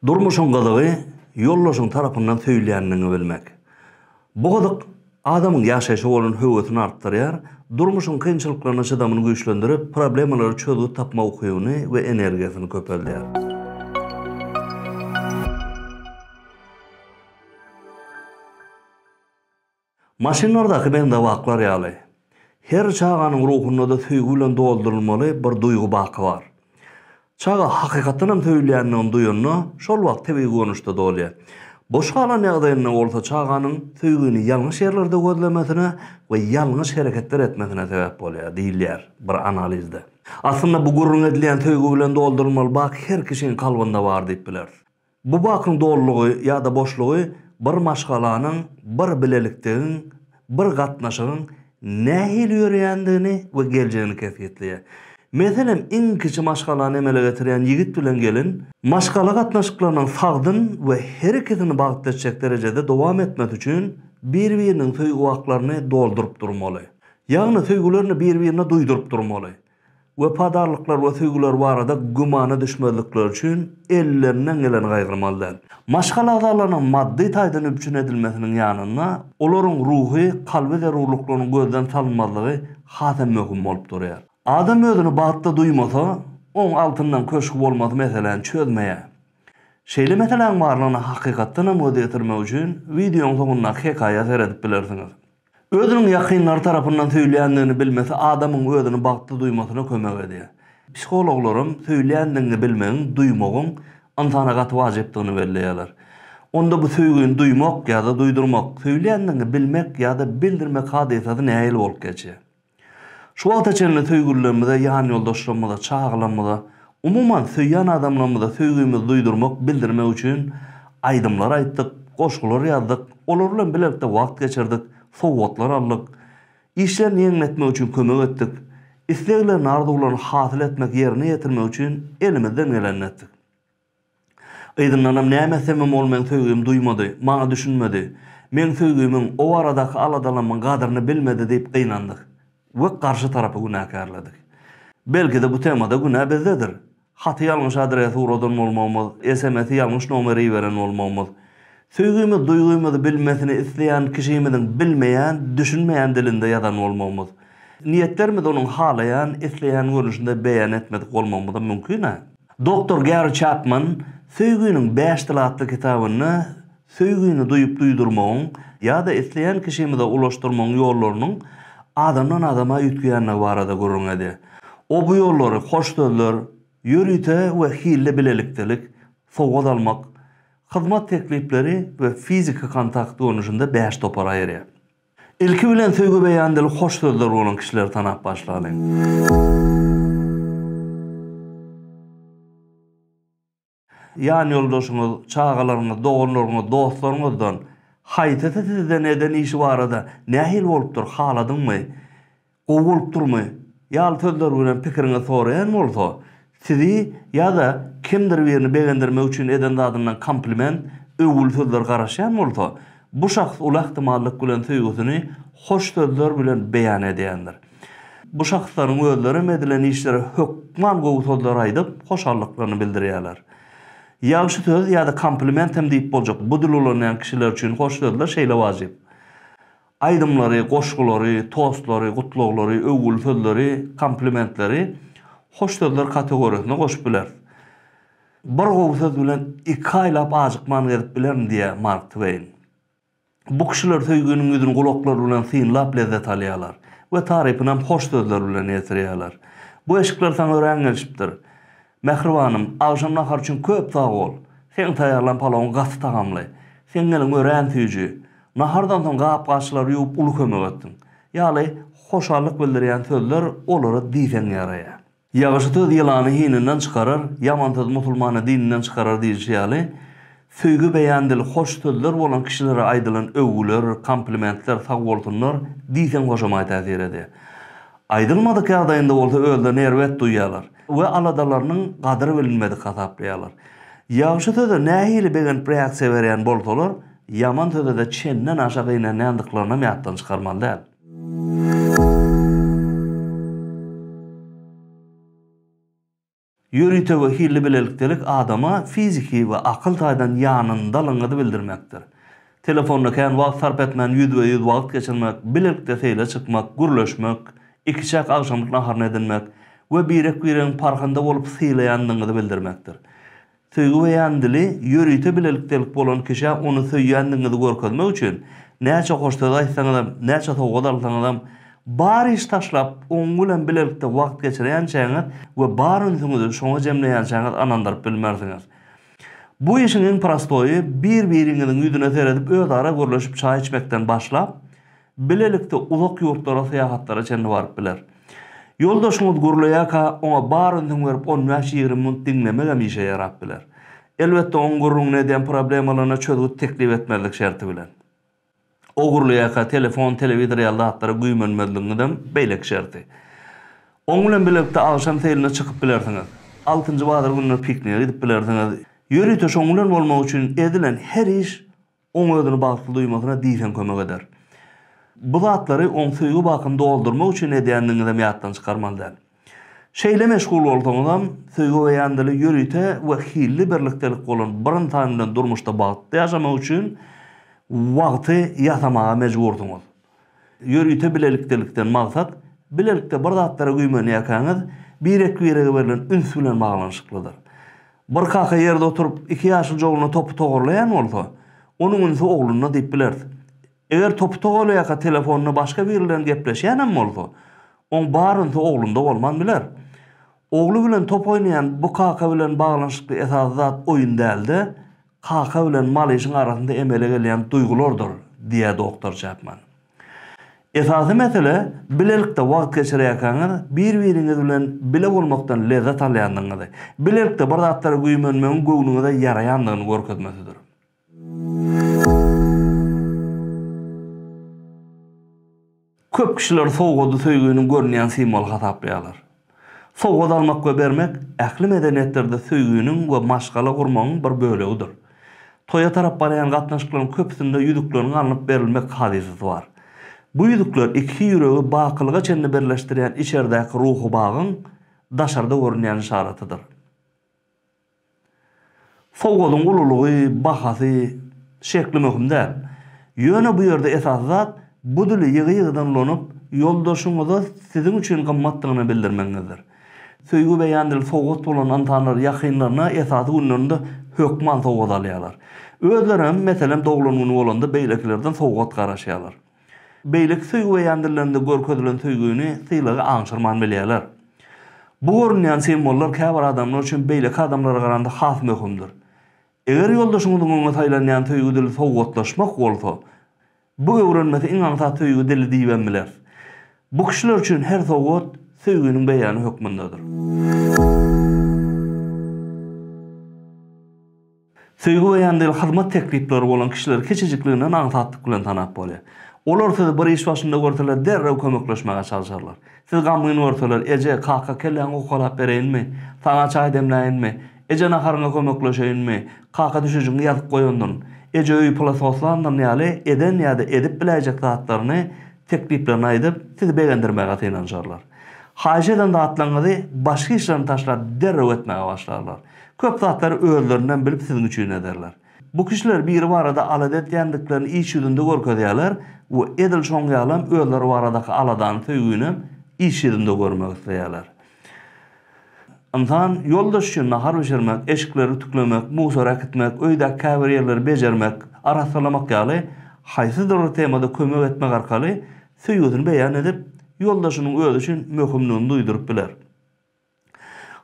Durmuşyň gyzygy ýoldaşyň tarapyndan söýülýändigiňi bilmek. Bu gyzyk adamyň ýaşaýşa bolan höwesini artdyrýar, durmuşyň kynçylyklaryna çydamyny güýçlendirip, problemalara çözgüt tapma ukybyny we energiýasyny köpeldýär. Maşynlardaky bendewaklar ýaly, her çaganyň ruhunda-da söýgi bilen doldurylmaly bir duýgy baky bar. Çaga hakykatdan hem söýülýändigini duýanda, şol wagt tebigy görnüşde dolýar. Boş galan ýagdaýynda bolsa çaganyň söýgini ýalňyş ýerlerde gözlemesine we ýalňyş hereketler etmesine sebäp bolýar, diýilýär bir analizde. Aslynda bu gürrüň edilýän söýgi bilen doldurylmaly bak her kişiň kalbynda bar diýip bileris. Bu bakyň dolulygy ýa-da boşlugy bir maşgalanyň, bir bilelikdigiň, bir gatnaşygyň nähili ýöreýändigini we geljegini kesgitleýär. Meselem, iň kiçi maşgalany emele getirýän ýigit bilen gelin, maşgala gatnaşyklarynyň sagdyn we her ikisini bagtly etjek derejede dowam etmesi üçin bir-biriniň söýgi waklaryny dolduryp durmaly. Ýagny söýgülerini bir-birine duýduryp durmaly. wepadarlyklar we söýgüler barada gümana düşmezlikleri üçin ellerinden geleni gaýgyrmaly däl. Maşgala agzalarynyň maddy taýdan üpjün edilmesiniň ýanynda, olaryň ruhy, kalby zerurlyklarynyň gözden salynmazlygy has hem möhüm bolup durýar. Adam özüni bagtly duýmasa, oň altyndan köşgi bolmasy meseläni çözmeýär. Şeýle meseläň barlygyna hakykatdan hem göz ýetirmek üçin wideoň soňundaky hekaýa seredip bilersiňiz. Özüniň ýakynlary tarapyndan söýülýändigini bilmesi adamyň özüni bagtly duýmasyna kömek edýär. Psihologlaram söýülýändigiňi bilmegiň, duýmagyň ynsana gaty wajypdygyny belleýärler. Onda bu söýgini duýmak ýa-da duýdurmak, söýülýändigiňi bilmek ýa-da bildirmek hadysasy nähili bolup geçýär? Şu wagta çenli söýgülilerimize, ýanýoldaşlarymyza, çagalarymyza, umuman, söýýän adamlarymyza söýgimizi duýdurmak, bildirmek üçin aýdymlar aýtdyk, goşgular ýazdyk, olar bilen bilelikde wagt geçirdik, sowgatlar aldyk, işlerini ýeňletmek üçin kömek etdik, isleglerini, arzuwlaryny hasyl etmek, ýerine ýetirmek üçin elimizden gelenini etdik. Yzyndanam näme etsemem ol meň söýgimi duýmady, maňa düşünmedi. Meň söýgimiň, o baradaky aladalamyň gadyryny bilmedi diýip gynandyk we garşy tarapy günäkärledik. Belki-de bu temada günä bizdedir. Haty ýalňyş adrese uradan bolmagymyz, SMS-i ýalňyş nomere iberen bolmagymyz. Söýgimiz duýgymyzy bilmesini isleýän kişimiziň bilmeýän, düşünmeýän dilinde ýazan bolmagymyz. Niýetlerimizi onuň halaýan, isleýän görnüşinde beýan etmedik bolmagymyzam mümkin-ä. Doktor Gary Çapman Söýginiň bäş dyly atly kitabynda söýgini duýup-duýdurmagyň ýa-da isleýän kişimize ulaşdyrmagyň ýollarynyň adamdan-adama üýtgeýändigi barada gürrüň edýär. O bu ýollary hoş sözler, ýörite we hilli bilelikdelik, sowgat almak, hyzmat teklipleri we fiziki kontakt görnüşinde bäş topara aýyrýar. Ilki bilen söýgi beýan dili hoş sözler bolan kişileri tanap başlalyň. Ýan ýoldaşyňyz, çagalaryňyz, doganlaryňyz, dostlaryňyzdan haýsysy sizden eden işi barada nähili bolupdyr, haladyňmy? Gowy bolup durmy? ýaly sözler bilen pikiriňizi soraýan bolsa, sizi ýa-da kimdir birini begendirmek üçin eden zadyndan kompliment, öwgüli sözler garaşýan bolsa, bu şahs uly ähtimallyk bilen söýgüsini hoş sözler bilen beýan edýändir. Bu şahslaryň özleri hem edilen işlere hökman gowy sözler aýdyp, hoşallyklaryny bildirýärler. Ýagşy söz ýa-da kompliment hem diýip boljak, bu dil ulanýan kişiler üçin hoş sözler şeýle wajyp. Aýdymlary, goşgulary, tostlary, gutlaglary, öwgül sözleri, komplimentleri hoş sözler kategorisine goşup bileris. Bir gowy söz bilen iki aýlap ajykman gezip bilerin diýýä Mark Tweýn. Bu kişiler söýginiň ýüzüni gulaklary bilen synlap lezzet alýarlar we tarypynam hoş sözler bilen ýetirýärler. Bu eşikler saňa örän gelşipdir. Mähribanym, agşam nahar üçin köp sag bol! Seň taýýarlan palawyň gaty tagamly. Seň eliň örän süýji. Nahardan soň gap-gaçlary ýuwup uly kömek etdiň. Ýaly hoşallyk bildirýän sözler olara diýseň ýaraýar. Ýagşy söz ýylany hininden çykarar, ýaman söz musulmany dininden çykarar diýlişi ýaly, Söýgi beýan dili hoş sözler bolan kişilere aýdylan öwgüler, komplimentler, sagbolsunlar diýseň hoşamaý täsir edýär. Aýdylmadyk ýagdaýynda bolsa özlerini erbet duýýarlar we aladalarynyň gadyry bilinmedik hasaplaýarlar. Ýagşy söze nähili begenip reaksiýa berýän bolsalar, ýaman sözede çenden aşa gynanýandyklarynam ýatdan çykarmaly däl. Ýörite we hilli bilelikdelik adama fiziki we akyl taýdan ýanyndalygyňyzy bildirmekdir. Telefonda kän wagt sarp etmän ýüzbe-ýüz wagt geçirmek, bilelikde seýle çykmak, gürleşmek, ikiçäk agşamlyk naharyny edinmek we birek-biregiň parhynda bolup sylaýandygyňyzy bildirmekdir. Söýgi beýan dili ýörite bilelikdelik bolan kişä ony söýýändigiňizi görkezmek üçin, näçe hoş söz aýtsaňyzam, näçe sowgat alsaňyzam, bar iş taşlap, oň bilen bilelikde wagt geçirýänçäňiz we bar ünsüňizi şoňa jemleýänçäňiz ynandyryp bilmersiňiz. Bu işiň iň prostoýy, bir-biriňiziň ýüzüne seredip özara gürleşip çaý içmekden başlap, Bilelikde uzak ýurtlara syýahatlara çenli baryp biler. Ýoldaşyňyz gürleýärkä, oňa bar ünsüňi berip on bäş-ýigrimi minut diňlemegem işe ýarap biler. Elbetde, oň gürrüňini edýän problemalaryna çözgüt teklip etmezlik şerti bilen. O gürleýärkä telefon, telewizor ýaly zatlara güýmenmezligiňizem beýleki şerti. Oň bilen bilelikde agşam seýline çykyp bilersiňiz. Altynjy bazar gününe piknige gidip bilersiňiz. Ýörite şoň bilen bolmak üçin edilen her iş Oň özüni bagtly duýmasyna diýseň kömek eder. Bu zatlary oň söýgi bakyny doldurmak üçin edýändigiňizem ýatdan çykarmaly däl. Şeýle meşgul bolsaňyzam, söýgi beýan dili ýörite we hilli birlikdelik bolan bir ynsan bilen durmuşda bagtly ýaşamak üçin wagty ýasamaga mejbursyňyz. Ýörite bilelikdelikden maksat, bilelikde bir zatlara güýmenýärkäňiz, birek-birege berlen üns bilen baglanyşyklydyr. Bir kaka ýerde oturyp, iki ýaşyljy ogluna topy togarlaýan bolsa, onuň ünsi oglunda diýip bileris. Eger topy togarlaýarka telefonda başga biri bilen gepleşýän hem bolsa, oň bar ünsi oglunda bolman biler. Ogly bilen top oýnaýan bu kaka bilen baglanyşykly esasy zat oýun däl-de, Kaka bilen malyşyň arasynda emele gelýän duýgulardyr, diýýär doktor Çäpman. Esasy mesele, bilelikde wagt geçirýärkäňiz, bir-biriňiz bilen bile bolmakdan lezzet alýandygyňyzy, bilelikde bir zatlara güýmenmegiň göwnüňize ýaraýandygyny görkezmesidir. Köp kişiler sowgady söýginiň görünýän simwoly hasaplaýarlar. Sowgat almak we bermek ähli medeniýetlerde söýginiň we maşgala gurmagyň bir bölegidir. Toýa tarap barýan gatnaşyklaryň köpüsinde ýüzükleriň alnyp berilmek hadysasy bar. Bu ýüzükler iki ýüregi bakylyga çenli birleşdirýän içerdäki ruhy bagyň daşarda görünýän yşaratydyr. Sowgadyň ululygy, bahasy, şekli möhüm däl. Ýöne bu ýerde esasy zat bu dili ýygy-ýygydan ulanyp, ýoldaşyňyza siziň üçin gymmatdygyny bildirmegiňizdir. Söýgi beýan dili sowgat bolan ynsanlar ýakynlaryna esasy günlerinde hökman sowgat alýarlar. Özlerem, meselem, doglan güni bolanda beýlekilerden sowgat garaşýarlar. Beýleki söýgi beýandyrylanynda görkezilen söýgini, sylagy aňşyrman bilýärler. Bu görünýän simwollar käbir adamlar üçin beýleki adamlara garanda has möhümdir. Eger ýoldaşyňyzyň öňe saýlanýan söýgi dili sowgatlaşmak bolsa, bu öwrenmesi iň aňsat söýgi dili diýibem bileris. Bu kişiler üçin her sowgat söýginiň beýany hökmündedir. Söýgi beýan edil hyzmat teklipleri bolan kişileri kiçijikliginden aňsatlyk bilen tanap bolýar. Olar sizi bir iş başynda görseler derrew kömekleşmäge çalşarlar. Siz gamgyn görseler, Eje, kaka, kelläňi hokalap bereýinmi? Saňa çaý demläýinmi? Eje, naharyňa kömekleşeýinmi? Kaka, düşejigiňi ýazyp goýandyryn. Eje öýi pula soslandyryn ýaly eden ýa-da edip biläýjek zatlaryny, tekliplerini aýdyp, sizi begendirmäge synanyşarlar. Haýyş eden zatlaryňyzy başga işlerini taşlap derrew etmäge başlarlar. Köp zatlary özlerinden bilip siziň üçin ederler. Bu kişiler biri barada alada etýändiklerini iş ýüzünde görkezýärler we edil şoň ýalam özleri baradaky aladany, söýginem iş ýüzünde görmek isleýärler. Ynsan ýoldaş üçin nahar bişirmek, eşikleri ütüklemek, musor äkitmek, öýdäki käbir ýerleri bejermek, arassalamak ýaly haýsydyr bir temada kömek etmek arkaly söýgüsini beýan edip, ýoldaşynyň özi üçin möhümdigini duýduryp biler.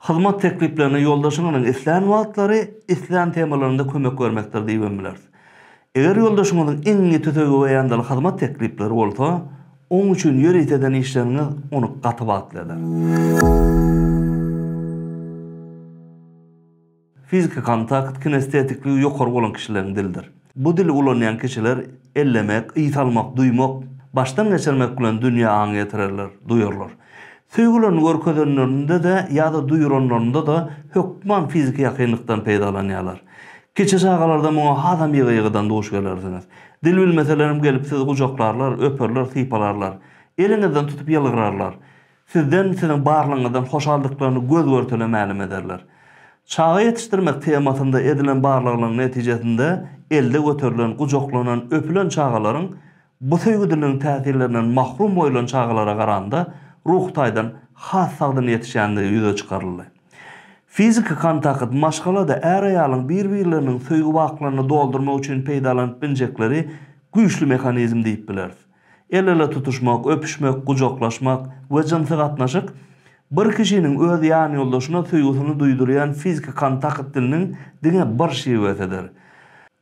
Hyzmat tekliplerini ýoldaşyňyzyň islän wagtlary, islän temalarynda kömek bermekdir diýibem bileris. Eger ýoldaşyňyzyň iň ýiti söýgi beýandyly hyzmat teklipleri bolsa, oň üçin ýörite eden işleriňiz ony gaty bagtly eder. Fiziki kontakt kinestetikligi ýokary bolan kişileriň dilidir. Bu dili ulanýan kişiler ellemek, ys almak, duýmak, başdan geçirmek bilen dünýä aň ýetirerler, duýarlar. Söýgülerini görkezenlerinde-de ýa-da duýranlarynda-da hökman fiziki ýakynlykdan peýdalanýarlar. Kiçi çagalarda muňa hasam ýygy-ýygydan duş gelersiňiz. Dil bilmeselerem gelip sizi gujaklarlar, öperler, sypalarlar. Eliňizden tutup ýylgyrarlar. Sizden, siziň barlygyňyzdan hoşaldyklaryny göz görtele mälim ederler. Çaga ýetişdirmek temasynda edilen barlaglaryň netijesinde elde göterilen, gujaklanan, öpülen çagalaryň bu söýgüdiligiň täsirlerinden mahrum goýulan çagalara garanda ruhy taýdan has sagdyn ýetişýändigi ýüze çykaryldy. Fiziki kontakt, maşgalada är-aýalyň bir-birleriniň söýgi waklaryny doldurmak üçin peýdalanyp biljekleri güýçli mehanizm diýip bileris. El-ele tutuşmak, öpüşmek, gujaklaşmak we jynsy gatnaşyk, bir kişiniň öz ýanýoldaşyna söýgüsini duýdurýan fiziki kontakt diliniň diňe bir şiwesidir.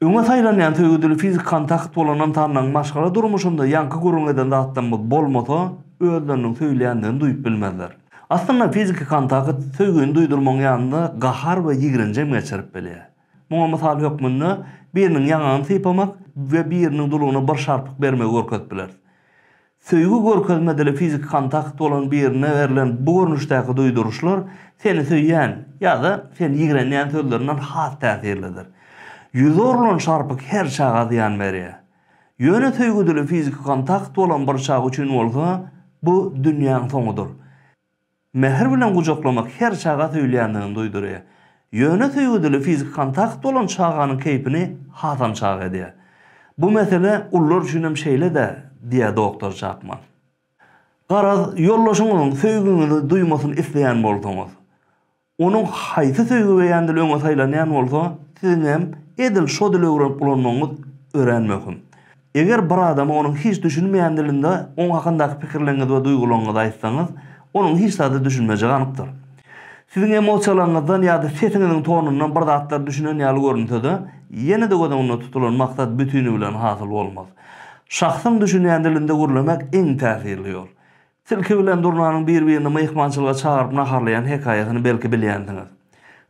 Öňe saýlanýan söýgi dili fiziki kontakt bolan ynsanlaryň maşgala durmuşynda ýaňky gürrüň eden zatlarymyz bolmasa, özleriniň söýülýändigini duýup bilmezler. Aslynda, fiziki kontakt söýgini duýdurmagyň ýanynda gahar we ýigrenjem geçirip bilýär. Muňa mysal hökmünde biriniň ýaňagyny sypamak we biriniň dulugyna bir şarpyk bermegi görkezip bileris. Söýgi görkezme dili fiziki kontakt bolan birine berlen bu görnüşdäki duýduryşlar seni söýýän ýa-da seni ýigrenýän sözlerinden has täsirlidir. Ýüze urlan şarpyk her çaga zyýan berýär. Ýöne söýgi dili fiziki kontakt bolan bir çag üçin bolsa bu dünýäň soňudyr. Mähir bilen gujaklamak her çaga söýülýändigini duýdurýar. Ýöne söýgüdili fiziki kontakt bolan çaganyň keýpini hasam çag edýär. Bu mesele ulular üçin hem şeýle-dä, diýýär doktor Çakman. Garaz, ýoldaşyňyzyň söýgiňizi duýmasyny isleýän bolsaňyz, Onuň haýsy söýgi beýan dili öňe saýlanýan bolsa, siziň hem edil şo dili öwrenip ulanmagyňyz örän möhüm. Eger bir adama onuň hiç düşünmeýän dilinde oň hakyndaky pikirleriňizi we duýgularyňyzy aýtsaňyz, onuň hiç zada düşünmejegi anykdyr. Siziň emosiýalaryňyzdan ýa-da sesiňiziň tonundan bir zatlar düşünen ýaly görünse-de, ýene-de göz öňünde tutulan maksat bütinbilen hasyl bolmaz. Şahsyň düşünýän dilinde gürlemek iň täsirli ýol. Tilki bilen Durnanyň bir-birini myhmançylyga çagyryp naharlaýan hekaýasyny belki bilýänsiňiz.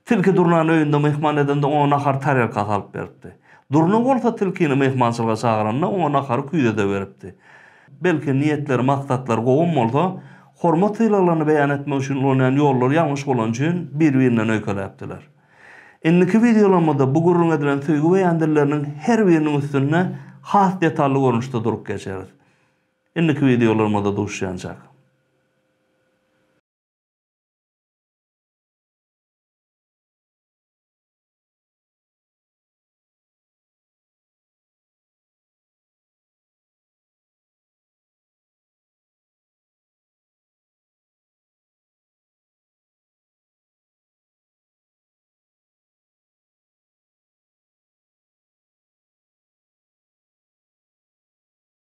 Tilki Durnany öýünde myhman edende oňa nahary tarelkasy alyp beripdi. Durna bolsa tilkini myhmançylyga çagyranda oňa nahary küýzede beripdi. Belki niýetleri, maksatlary gowam bolsa, hormat-sylaglaryny beýan etmek üçin ulanýan ýollary ýalňyş bolany üçin bir-birinden öýkeläpdiler. Indiki wideolamada bu gürrüň edilen söýgi beýan dilleriniň her biriniň üstünde has detally görnüşde durup geçeris. Indiki wideolarymyzda duşýançak.